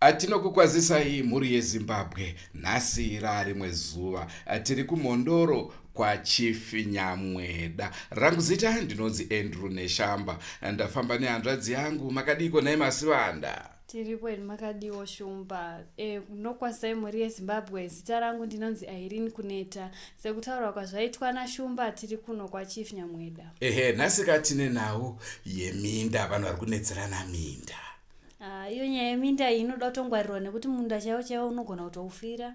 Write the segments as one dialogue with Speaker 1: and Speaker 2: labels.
Speaker 1: atinokukwazisai mhuri yezimbabwe nhasi rarimwe zuva tiri kumhondoro kwachief nyamweda rangu zita ndinonzi andrew neshamba ndafamba nehanzvadzi yangu makadiiko nhai masivanda tiripo ini
Speaker 2: makadiwo shumba e, nokwazai mhuri yezimbabwe zita rangu ndinonzi irene kuneta sekutaurwa kwazvaitwa nashumba tiri kuno kwachief nyamweda ehe nhasika tine
Speaker 1: nhau yeminda vanhu vari kunetserana minda ah, iyo
Speaker 2: nyaya yeminda iyi inoda kutongwarirwa nekuti munda chaiwo chaiwo unogona kutoufira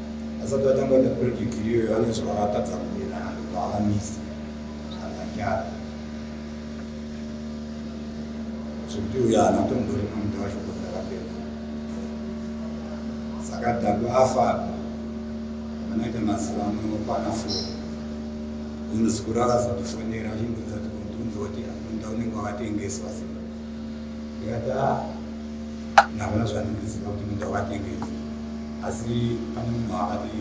Speaker 3: asati atanga kuita project iyoyo ane zvaakatadza kuita ndokuakamisa zvakanyara zvekuti uyo ana kutombori munda wacho kuti akapedza saka dhaku afa vanoita mazuva ano kwana foni ino zikuru akazotifonera achindudza tikunzwa kuti munda unenge wakatengeswa sei ndikati a ah, ndavona zvandindiziva kuti munda wakatengesa asi pane munhu wakati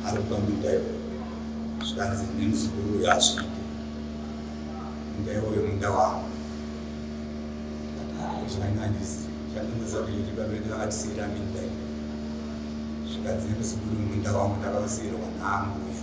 Speaker 3: ari kupa munda iwo zvikanzi nemuzukuru uyo azviite munda iwoyo munda wavo zvainandisi zvandinoziva kuti chiti babedu vakatisiira minda iyo zvikanzi nemuzukuru munda wangu ndakausiirwa naambuya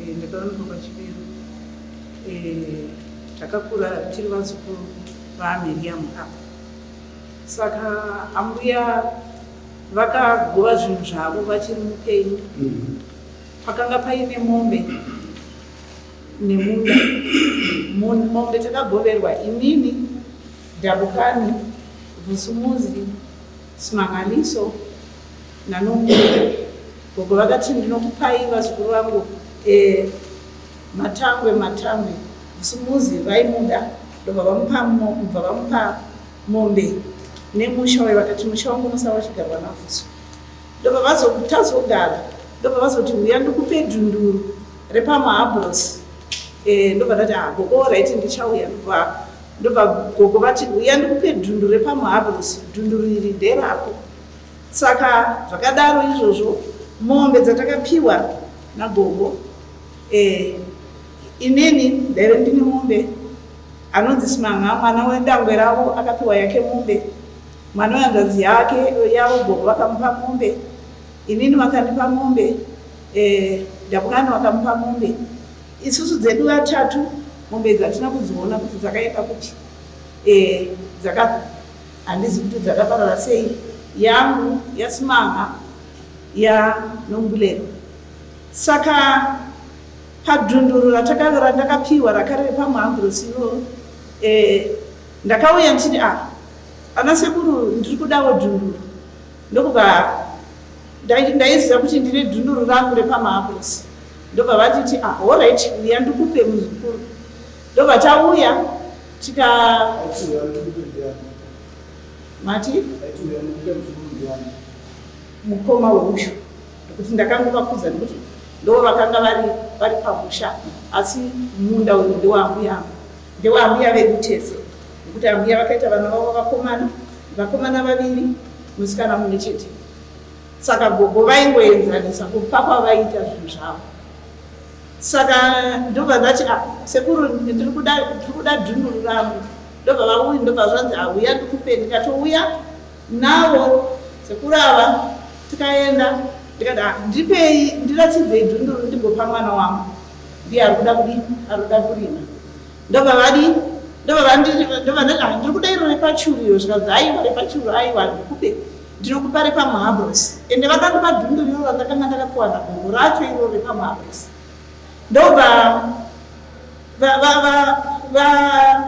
Speaker 4: Eh, ndakaonekwa pachiberu eh, takakura tiri vazukuru vaamiriyamu apa saka ambuya vakagova zvinhu zvavo vachiri mupenyu mm-hmm. pakanga paine mombe nemunda mombe takagoverwa inini dabukani vusumuzi simangaliso nanomira gogo vakati ndinokupai vazukuru vangu e, matangwe matangwe musumuzi vaimuda ndobva vamupa mubva vamupa mombe nemusha wayo vakati musha wangu unosava uchigarwa nafuso ndobva vazotazogara ndobva vazoti uya ndikupe dhunduru repamahabros e, eh, ndobva ndati ah, gogo oraiti ndichauya ndobva ndobva gogo vati uya ndikupe dhunduru repamahabros dhunduru iri nderako Saka zvakadaro izvozvo mombe dzatakapiwa nagogo eh, inini ndaive ndine mombe anonzi simanga mwana wedangwe ravo akapiwa yake mombe mwana wehanzvadzi yake yavo gogo vakamupa mombe inini vakandipa mombe eh, ndabungani vakamupa mombe isusu dzedu vatatu mombe idzi hatina kudziona kuti dzakaenda kuti eh, dzaka Handizi kuti dzakaparara sei yangu yasimanga ya nombulero saka padunduru ratakavera ndakapiwa rakare repamhamburosivo e, eh, ndakauya ndichiti a ah, ana sekuru ndiri kudawo dunduru ndokubva ndaiziva kuti ndine dunduru rangu repamhamburosi ndobva vatiti ahorit ah, uya ndikupe muzukuru ndobva tauya Tika mati mukoma wemusha nekuti ndakangokakudza nekuti ndo vakanga vari vari pamusha asi munda uyu ndewaambuya angu ndewaambuya vedu tese nekuti ambuya vakaita vana vavo vakomana vakomana vaviri musikana mune chete saka gogo vaingoenzanisa kupa kwavaita zvinhu zvavo saka ndobva vati a ah, sekuru ndiri kuda dhunduru rangu ndobva vauyi ndobva zvanzi auya ah, ndikupe ndikatouya navo sekuru ava tikaenda ndikati a ah, ndipei ndiratidzei dhunduru ndigopa mwana wangu ndiye ari kuda kudi ari kuda kurima ndobva vadi ndobva vandiri ndobva ndiri kuda iro repachuru iyo zvikanzi aiwa repachuru aiwa ndikupe Ndinokupa repamuhabros ende vakandipa dhumbu rino randakanga ndakakuwana gogo racho iro repamuhabros ndobva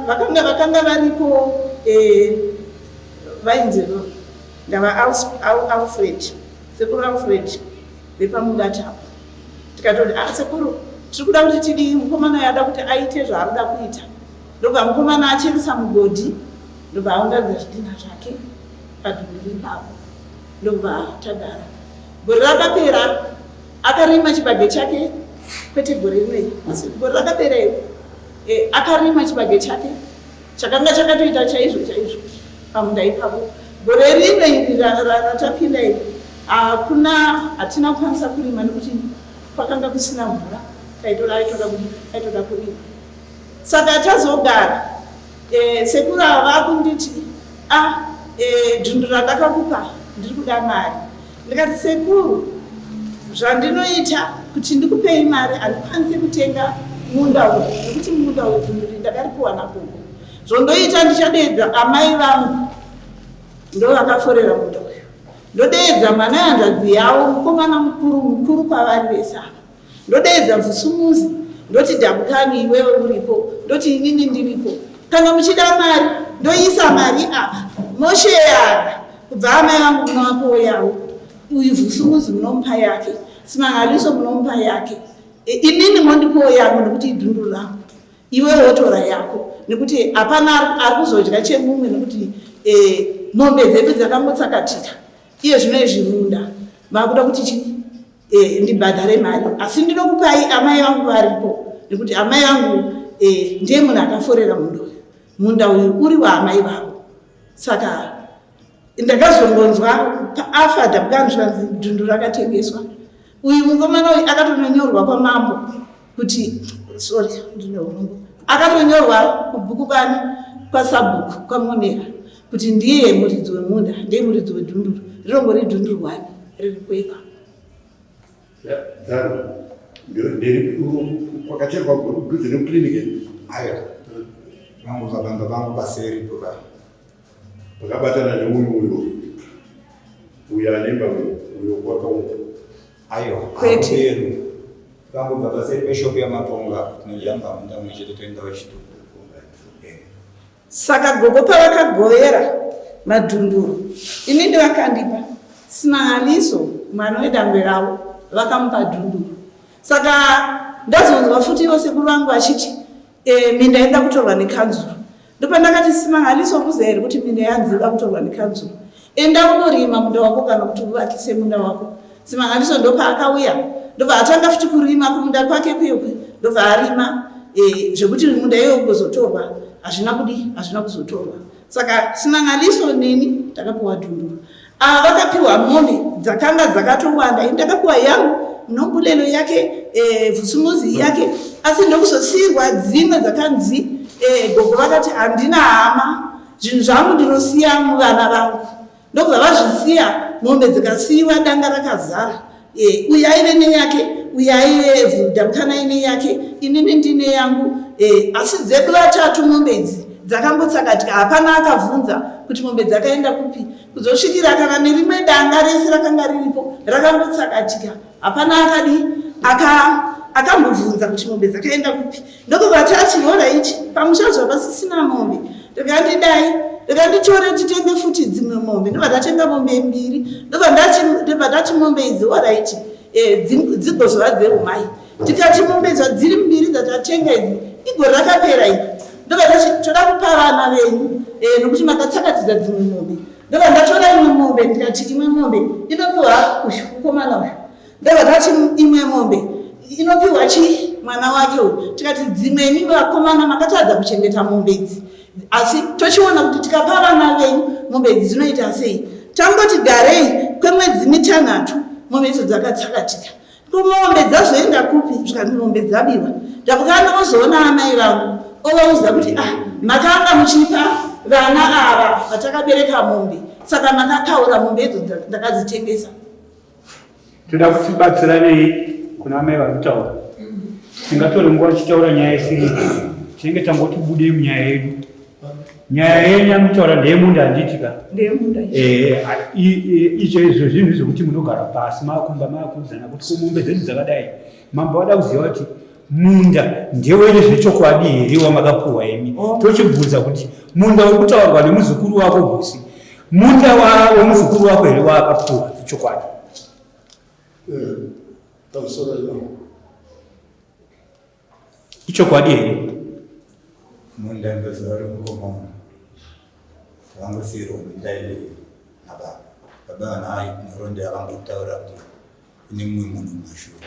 Speaker 4: vakanga vakanga varipo eh, vainzi ndava alfred sekuru alfred vepamubata apo tikatoti a ah, sekuru tiri kuda kuti tidii mukomana yada kuti aite zvaarikuda kuita ndobva mukomana acheresa mugodhi ndobva aunganidza zvidhina zvake padhuku ipapo ndobva tadara gore rakapera akarima chibage chake kwete gore rinei asi gore rakapera iyo e, akarima chibage chake chakanga chakatoita chaizvo chaizvo pamunda ipapo gore rino iri ratapinda iri hakuna hatina kukwanisa kurima nekuti kwakanga kusina mvura taitoda aitoda kurima saka tazogara Eh, sekuru ava vakunditi a ah, eh, dundu randakakupa ndiri kuda mari ndikati sekuru zvandinoita kuti ndikupei mari handikwanisi kutenga munda uyu nekuti munda uyu dunduri ndakaripiwa nagogo zvondoita ndichadeedza amai vangu ndo vakaforera munda uyu ndodeedza mwana yanzvadzi yavo mukomana mukuru mukuru kwavari vese ava Ndodeedza Mvusumuzi ndoti Dabukani iwewe uripo ndoti inini ndiripo. Kana muchida mari ndoisa mari apa mosheyana kubva amai vangu munovapa woyawo uyu Vusumuzi munomupa yake Simangaliso munomupa yake e, inini mondipawo yangu nekuti idundu rangu iwewe wotora yako nekuti hapana ari kuzodya chemumwe nekuti e, mombe dzedu dzakangotsakatika iye zvino izvirunda makuda kuti chii eh, ndibhadhare mari asi ndinokupai amai vangu varipo nekuti amai vangu eh, ndiye munhu akaforera munda uyu munda uyu uri waamai vavo saka ndakazongonzwa paafa dabukanzvanzi dundu rakatengeswa uyu mukomana uyu akatononyorwa kwamambo kuti sorry ndine urombo akatonyorwa kubhuku kwani kwasabhuku kwamonera kuti ndiye muridzi wemunda ndiye muridzi wedhunduru rirongori dhunduru wani riri kuipa
Speaker 5: kwakacherwa kudhuze nekuclinic aya
Speaker 3: vangu vabamba vangu baseri kuva
Speaker 5: vakabatana neuyu uyo uyo anemba uyo kwakauka Aiwa,
Speaker 3: Kwete.
Speaker 4: hakudero. Tangobva
Speaker 3: paseri peshop yaMatonga tinojamba munda mumwe chete toenda kuchitoro. Eh,
Speaker 4: saka gogo pavakagovera madhunduru ini ndivakandipa simahaniso mwana wedangwe ravo vakamupa dhunduru saka ndazonzwa futi ivo sekuru vangu vachiti Eh, minda inoda kutorwa nekanzuru ndopandakati simangaliso kuza here kuti minda yanzi inoda kutorwa nekanzuru enda unorima munda wako kana kuti uvakise munda wako simangaliso ndopaakauya ndobva atanga futi kurima kumunda kwake kuyekwe ndobva arima eh, zvekuti munda iyoyo kuzotorwa hazvina kudi hazvina kuzotorwa saka simangaliso neni takapiwa dhunduru Ava vakapiwa mombe dzakanga dzakatowanda, ini ndakapiwa yangu nombulelo yake eh, vusumuzi yake, asi ndokuzosiirwa dzimwe dzakanzi eh, gogo vakati handina hama, zvinhu zvangu ndinosiya muvana vangu. Ndokubva vazvisiya mombe dzikasiyiwa danga rakazara, Eh, uyu aive neyake uyu aive vhudamukana aine yake inini ndine yangu eh, asi dzedu vatatu mombe idzi dzakangotsakatika hapana akavhunza kuti mombe dzakaenda kupi kuzosvikira kana nerimwe danga rese rakanga riripo rakangotsakatika hapana akadii akambovhunza kuti mombe dzakaenda kupi ndokubva tati hora ichi pamusha zvapa sisina mombe ndikati dai ndikati tore titenge futi dzimwe mombe ndobva tatenga mombe mbiri ndobva tati mombe idzi hora ichi eh, dzigozova dzehumai tikati mombe idzo dziri mbiri dzatatenga idzi igore rakapera ii ndobva tati toda kupa vana venyu eh, nokuti makatsakatidza dzimwe mombe ndobva ndatora imwe mombe ndikati imwe mombe inopiwa uyu mukomana uyu Ndakati imwe mombe inopiwa chii mwana wake uyu tikati dzimwe imi vakomana makatadza kuchengeta mombe idzi asi tochiona kuti tikapa vana venyu mombe idzi dzinoita sei tangoti garei kwemwedzi mitanhatu mombe idzo dzakatsakatika komombe dzazoenda kupi zvikanzi mombe dzabiwa ndakukana ozoona amai vangu ovauza kuti ah makanga muchipa vana ava vatakabereka mombe saka makapaura mombe idzo ndakadzitengesa
Speaker 6: toda kuti batsiranei kuna mai vari kutaura tingatore nguva tichitaura nyaya isiri tinenge tangoti budei munyaya yedu nyaya yenyu anotaura ndeyemunda handiti ka
Speaker 4: eh,
Speaker 6: icho izvo zvinhu zvokuti munogara pasi makumba makuudzana kuti komombe dzedu dzakadai mambo vada kuziva kuti Munda ndewere zvechokwadi here wamakapuwa imi? Oh. Tochibvunza kuti munda uri kutaurwa nemuzukuru wako Husi, munda wemuzukuru wako here waakapuwa chokwadi? Ichokwadi here?
Speaker 3: Munda ndoziva uri mukoma vangosiirwa munda iyoyo nababa. Baba vanayo nhoroondo yavangotaura kuti ine mumwe munhu mashura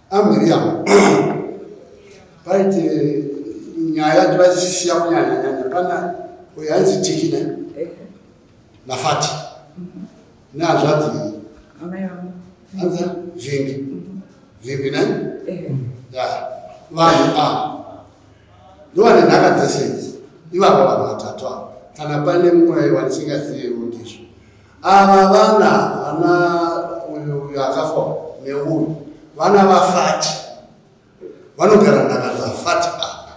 Speaker 7: amiriyamu paite nyaya tivasisiya kunyanya nyanya pana uyo ainzi tiki ne nafati neazvadzi anza vimbi vimbi ne ya vanhu a ndovane nhaka dzese idzi ivavo vanhu vatatu avo kana pane mumwe wanisingaziyewo ndizvo Ava vana vana uyu uyu akafa neuyu vana vafati vanogara nhaka dzafati apa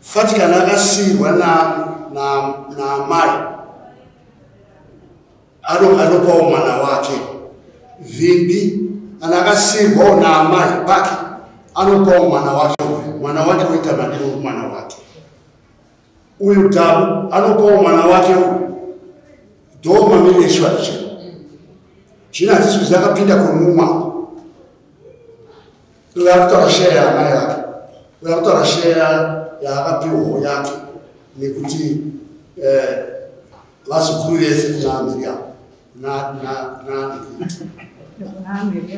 Speaker 7: fati kana akasiirwa naamai anopawo mwana wake vhimbi kana akasiirwawo naamai pake anopawo mwana wake uyu mwana wake oita madiro mwana wake Uyu Dhabu anopawo mwana wake uyu dhoo mamiri eshuwa ichi zvino hadziswizi akapinda kwemumwa uyo akutaura sheya yaamai vake uyo akutaura sheya yaakapiwawo yake nekuti eh, vazukuru vese kuna miriamu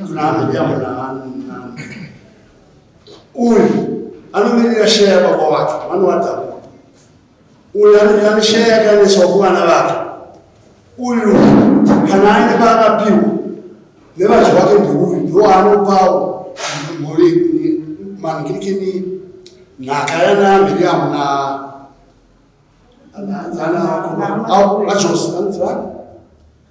Speaker 7: kuna miriamu Uyu anomirira sheya yababa wake vanovatambura. Uyu anomirira sheya yakaendeswa kuvana vake. Uyu kana aine paakapiwa nevadzi wake ndiuyu ndoanopawo mangirikini nhaka yana miriamu na anaanza ana acho anzivana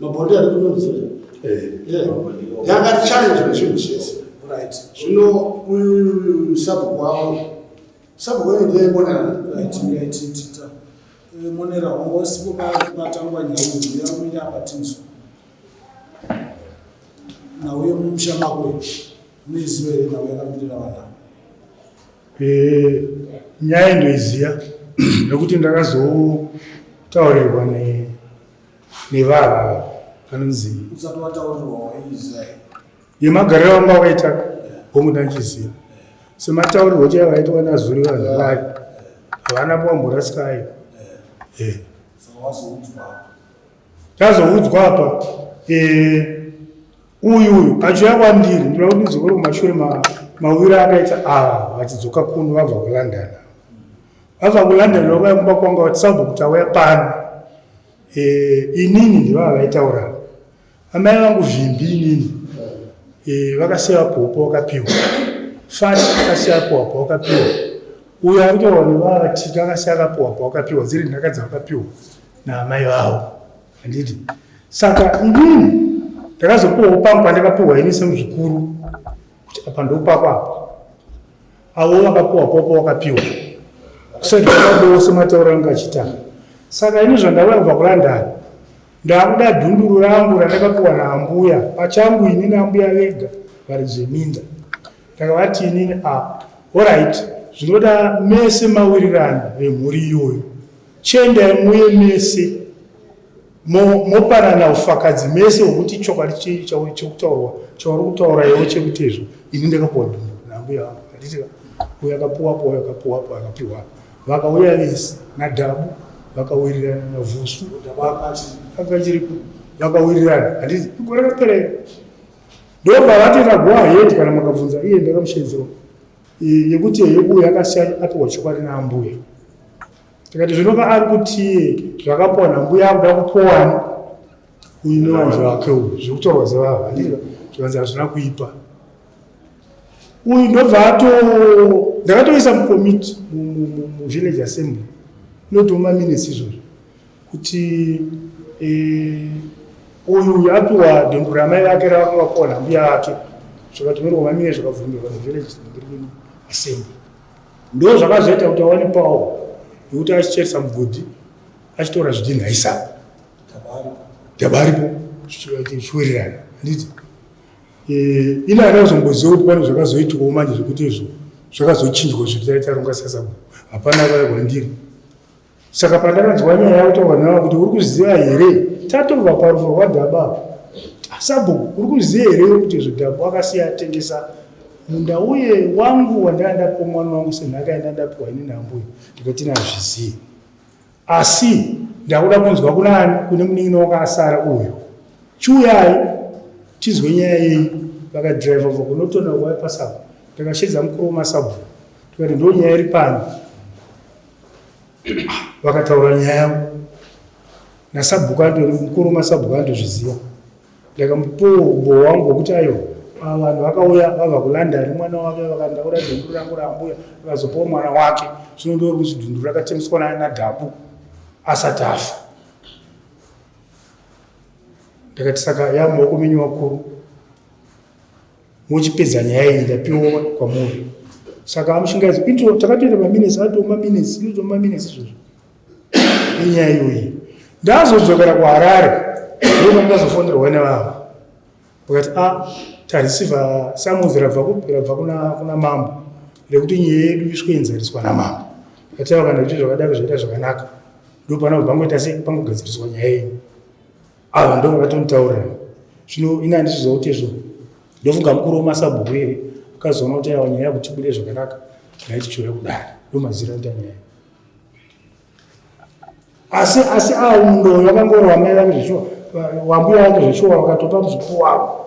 Speaker 7: mabhodhi ari kunonzira yangati challenge nechinhu chese right zvino uyu sabhuku wavo sabhuku wenyu ndiye monera right yaititita
Speaker 8: eh, monera hongo sipo patangwa nyau yamira apatinzwa nhau yemumusha makwe muiziva here nhau yakamirira vana eh,
Speaker 9: nyaya ndoiziva nekuti ndakazotaurirwa ne nevava anonzi
Speaker 8: yemagariro
Speaker 9: anga waita hongu ndandichiziva semataurirwo chaiva vaitwa nazuri vanhu vayo havana kuwamborasika ayo eh. ndazoudzwa apa eh, uyu uyu achiuya kwandiri ndinoda kuti ndizokore kumashure mawiri akaita ava ah, vachidzoka kuno vabva kulondon vabva kulondon vakauya kumba kwanga vati sabhukuti auya pano Eh, inini ndivava vaitaura amai vangu vimbi inini eh, vakasiya popo wakapiwa fati akasiya popo wakapiwa uyo ari kutaura nevavatika akasiya akapiwa po wakapiwa dziri nhaka dzavakapiwa naamai vavo handiti saka inini ndakazopiwawo pangu pandakapiwa ini semuzukuru kuti apa ndopako apa avo vakapiwa popo wakapiwa kusedaaose matauro anga achitanga saka ini zvandauya kubva kulondon ndakuda dhunduru rangu randakapiwa naambuya pachangu ini naambuya vega vari zveminda ndakavati inini a ah, orit zvinoda mese mawirirano vemhuri iyoyo chendai muye mese mopanana ufakadzi mese wekuti chokwadi chii chauyo chekutaurwa chauri kutaura iwo chekutezvo ini ndakapuwa ndundu nambuya vangu handiti uyo akapuwapo uyo akapuwapo akapiwa vakauya vese nadhabu vakawirirana navusu akachiripo vakawirirana handiti igore raperera ndobva vatoita go ahead kana makabvunza iye ndakamusheedzero yekuti yekuuya akasiya apiwa chokwadi naambuya tikati zvinova ari kutie zvakapona mbuya akuda kupowani uyu newanzi wake uyu zvekutaurwa zevava zvikanzi hazvina kuipa uyu ndobva ato ndakatoisa mukomiti muvillage assembly inotoma minesi izvozvo kuti eh, uyu uyu apiwa dengu ramai vake ravanga vapona mbuya vake zvakatomerwa mamine zvakabvumirwa nevillage assembly Ndo zvakazoita kuti awane pawo yokuti achicheresa mugodhi achitora zvidhinha isaka dabaripo zvichiwererana handiti eh, ini ana kuzomboziva kuti pane zvakazoitwawo manje zvekuti izvo zvakazochinjwa zvekutaitaronga sasabhuku hapana vaya kwandiri saka pandakanzwa nyaya yautaura nayo kuti uri kuziva here tatova parufu rwadhaba sabhuku uri kuziva here kuti zvidhabu akasiya atengesa munda uye wangu wandanga ndapiwa mwana wangu senhaka yanda ndapiwa ini nambuya ndikati nazvizive asi ndakuda kunzwa kunani kune munin'ina wakasara uyu chiuyai tizwe nyaya yei vakadriva va kunotona waipasabu ndakashedza mukuru wemasabhuku tikati ndo nyaya iri pano vakataura nyaya yangu nasabhuku ato mukuru masabhuku anotozviziva ndakamupiwo uboho wangu wekuti ayo vanhu vakauya vava kulanda ari mwana wake vakandaura dhunduru rangu raambuya vakazopawo mwana wake zvino ndori kuti dhunduru rakatemeswa nadhabu asati afa ndakati saka yamaoko menyu vakuru wochipedza nyaya iyi ndapiwa kwamuri saka amushingaidzi kuitira takatoita maminesi atoo maminesi inoitwa maminesi izvozvo enyaya iyoyi ndazodzokera kuharare ndoo ndazofonerwa nevavo vakati a ah, tarisiva samuzi rabva kupi rabva kuna mambo rekuti nyaya yedu isweinzariswa namambo ati vakana kuti zvakadaro zvaita zvakanaka ndopanobva ngoita sei pangogadziriswa nyaya yenyu ava ndo vakatonitaurira zvino ini handizviziva kuti izvo ndofunga mukuru wemasabhuku here akazoona kuti awa nyaya yakuti bude zvakanaka yaitichiuya kudari ndomazira kuita nyaya asi asi awo mundoyo vakangori wamai vangu zveshuwa wambuya vangu zveshuwa vakatopa muzuku wavo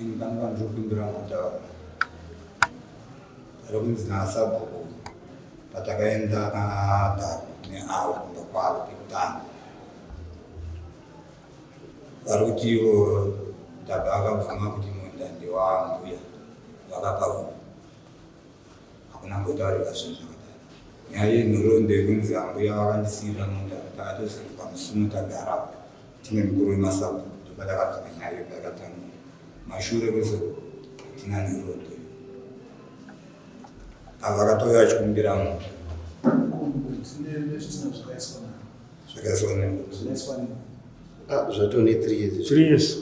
Speaker 3: Ini pane pandiri kumbira kutaura ari kunzi nasabhuku patakaenda nadhaku neavo kumba kwavo pekutanga vari kuti ivo dhaku akabvuma kuti munda ndewambuya vakapa kuno Hakuna kumbotaurwa zvinhu zvakadaro. Nyaya yenhoroondo yekunzi ambuya vakandisiira munda ndakatozoti pamusumo tagara tine mukuru wemasabhuku ndopatakabvira nyaya iyo payakatangira. Kumashure kwese uku hatina nhoroondo iyo. Ava vakatouya vachikumbira munda. Zvakaiswa nembuti.
Speaker 7: Zvatone three years. Three years.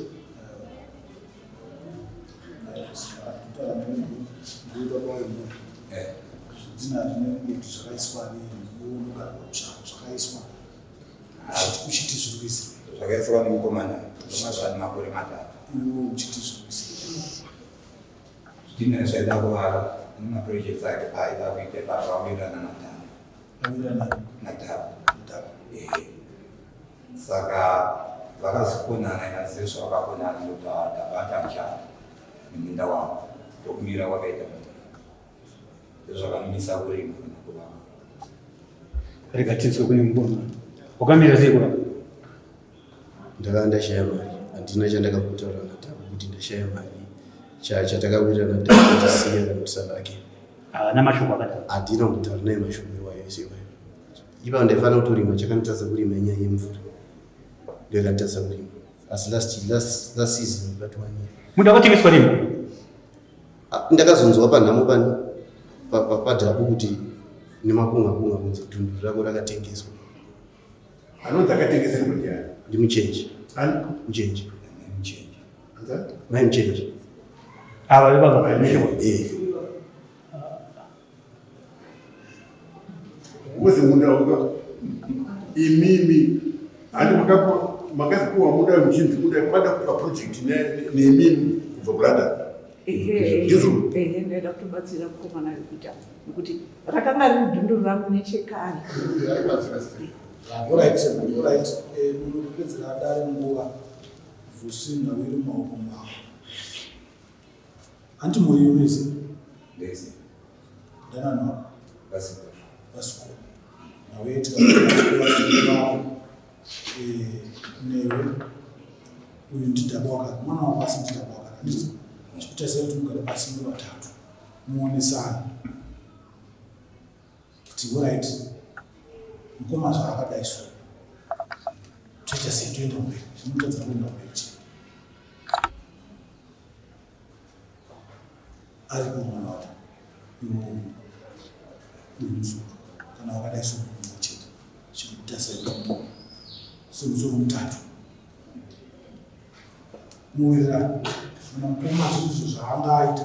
Speaker 3: zvakaiswa nemukomana zvemazvani makore matatu zvidhina zvaida kuvara nemaprojects ake paaida kuita pazvawirana natano natano saka vakazokonana inazio zvavakakonana ndotabata nja neminda wangu ndokumira kwakaita mata ndozvakamisa kurima kana kurama
Speaker 6: rega tinzwe kune mubona wakamira sei kurapa
Speaker 7: ndakanga ndashaya mari handina chandakakutaura natabo kuti ndashaya mari chatakakuita natabo kuti siya kana kusavake haana mashoko
Speaker 6: akadaro handina kutaura naye
Speaker 7: mashoko iwayo isiwayo Ipapo ndaifanira kutorima chakanditadza kurima inyaya yemvura. Ndiyo kanditadza kurima. Asi last last last season but one year. Munhu akatengeswa nini?
Speaker 6: Ah,
Speaker 7: ndakazonzwa panhamo pani padhabu kuti nemakunga kunga kunzi dundu rako rakatengeswa.
Speaker 5: Anonzi akatengesa kuti yani. Ndimuchenje. Ani?
Speaker 7: Muchenje. Muchenje. Anza? Mai muchenje. Ava
Speaker 6: vevanga. Eh.
Speaker 5: Wose munda uka imimi handi makazipuwa muda muchinzi muda kwada kupa project nemimi kubva kulondon ndizvonoda
Speaker 4: kutobatsira mukomana rekuita nekuti rakanga riri dundu rangu nechekare kupedzera
Speaker 8: dare nguva vusina wiri maoko mavo Hanti mhuri yenyu yese? Ndese. Ndanani wako? Vasiko. Vasiko. Nawe tikaaasiko wako. Eh, newe. Uyu ndidaba wakati. Mwana wako asi ndidaba wakati. Handiti? Chikutarisira kuti mugare pasi muri vatatu. Muonesana. kuti horaiti mukoma zvaakadai so toita sei toenda mberi zvinotadza kuenda mberi chii ari kumwana wacho iwemusoro kana wakadai so mumwe chete chikuita sei somusoro mutatu muwirirani kana mukoma zvinhu zvaanga aita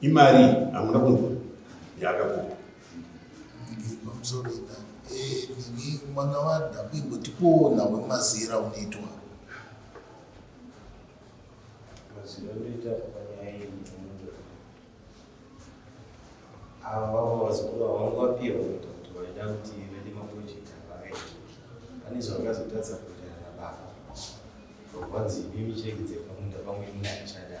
Speaker 5: Imari hamuna kunzwa yaakakupa.
Speaker 10: Pamusoro ina eh nini mwana wadhaku imbotipowo nawe mazira unoitwa.
Speaker 11: Mazira unoita panyaya iyi munondo. Ava vavo vazukuru ava vangu vapiwa kuita kuti vaida kuti vede maproject avave. Pane zvavakazotadza kuita ana baba. Vanzi imimi cheki dzepamunda pamwe imuna achada.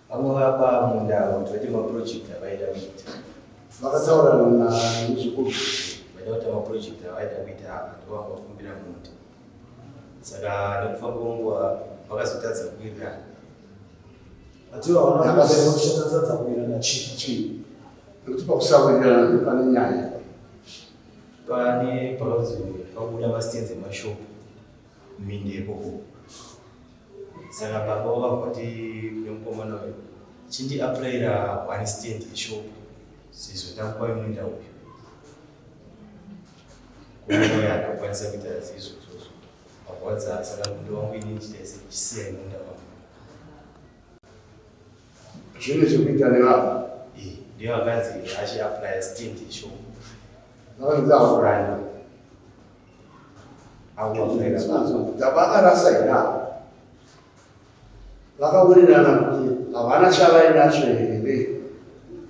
Speaker 11: Vanovapa munda avo kuti vaite maproject avaida kuita. Vakataura
Speaker 7: na muzukuru vaida kuita
Speaker 11: maproject avaida kuita ava ndovanga vakumbira munda. Saka nekufamba kwenguva vakazotadza kuwirirana. Atiwo havana
Speaker 8: kuziva kuti chatadza kuwirirana chii chii. Nekuti
Speaker 7: pakusawirirana ndipo pane nyaya.
Speaker 11: Pane pakazobuda masitenzi emashopu minda ikoko. saka baba vakavoti nemukomana uyu chindiapraira one stand yeshop sizotambuwa imwenda uyu kuoya akakwanisa kuita zizvo izvozvo akurwadza saka mundo wangu ini ndichitaise ndichisiya imwenda wangu zvine
Speaker 7: zvekuita nevava
Speaker 11: ndiyo akanzi achiaplaya stand yeshop vakanzi afuranda vakarasa
Speaker 7: ina vakawirirana kuti havana chavainacho here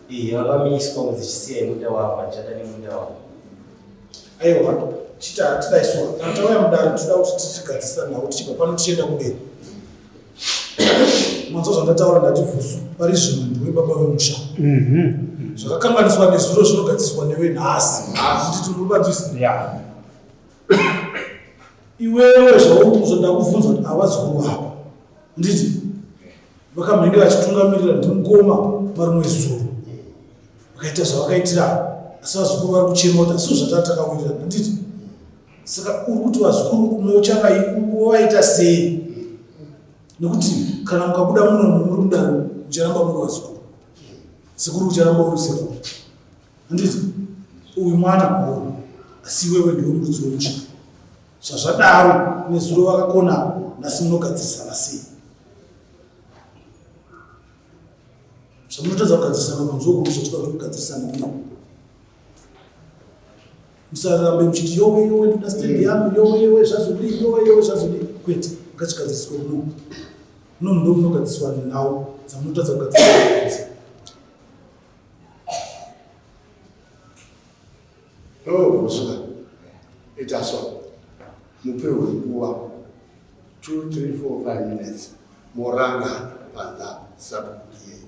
Speaker 7: iye
Speaker 11: vakamiswa kuti chisiya munda wavo vachada nemunda wavo aiwa
Speaker 8: chita tidaiswa kana tauya mudare toda kuti tichigadzisa nhau tichibva pano tichienda kudeni Mwanzwa zvandataura ndati vhusu pari zvino ndiwe baba vemusha. Mhm. Zvakakanganiswa nezuro zvinogadziswa newe nhasi. Handiti unobanzwisa? Yeah. Iwewe zvaunzwa ndakuvhunza kuti avazukuru vako. Handiti? Vakamhenge vachitungamirira ndimukoma marimwe zuro. Vakaita zvavakaitirana. Asi vazukuru vari kuchema kuti asi zvatati takawirirana. Handiti? saka uri kuti vazukuru kumwe uchavaita sei nekuti kana mukabuda muno muri mudaro ucharamba muri vazukuru sekuru ucharamba uri sekuru handiti uyu mwana mukuru asi iwewe ndiwe mudzi wemuchika zvazvadaro nezuro vakakona nhasi munogadzirisana sei zvamunotadza kugadzirisana kunzokuru zvatikuda kuti kugadzirisana kuno musarambe muchiti yowe yowe ndoda stand yangu yowe yowe zvazodii yowe yowe zvazodii kwete ngachigadziswe kuno kuno mundo kunogadziswa nhau dzamunotadza kugadzisa
Speaker 7: ovusuka ita so mupewe nguva 2 3 4 5 minutes moranga panza sabukiyei